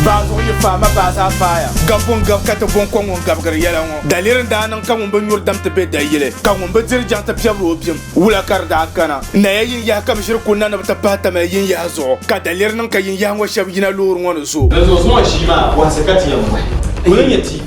Baazuɣu yi faai ma baa zaa faaya. Gabbu n gabi ka ti bo n ko ŋun gabigiri yɛla ŋɔ. Daliri n daa niŋ ka ŋun bi nyuri dam ti be dayili, ka ŋun bi diri jaŋ ti piɛbiri o bim. Wula ka di daa gana? Naya yin yaha ka bi ʒiri kul na ni bi ti pahi tamali yin yaha zuɣu, ka daliri niŋ ka yin yaha ŋɔ shɛb yina loori ŋɔ ni zo. Dinzuɣu zuŋɔ ʒii maa bɔhisi ka ti yɛn bɔhi. Kul n nyɛ TV.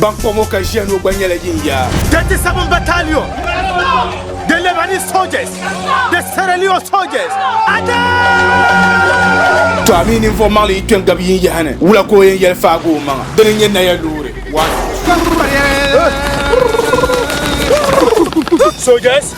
Ban kpa ŋɔ ka ʒiya ŋɔ gba nyɛla yin ya. 37 Battalion, the Lebanese soldiers, the Sierra Leone soldiers, Attack! To a mi ninvuɣ maŋli yi kpe n-gabi yin yaha ni, wula ka o yɛn yɛli faagi o maŋa? Dini n-nyɛ naya loori. One. Soldiers!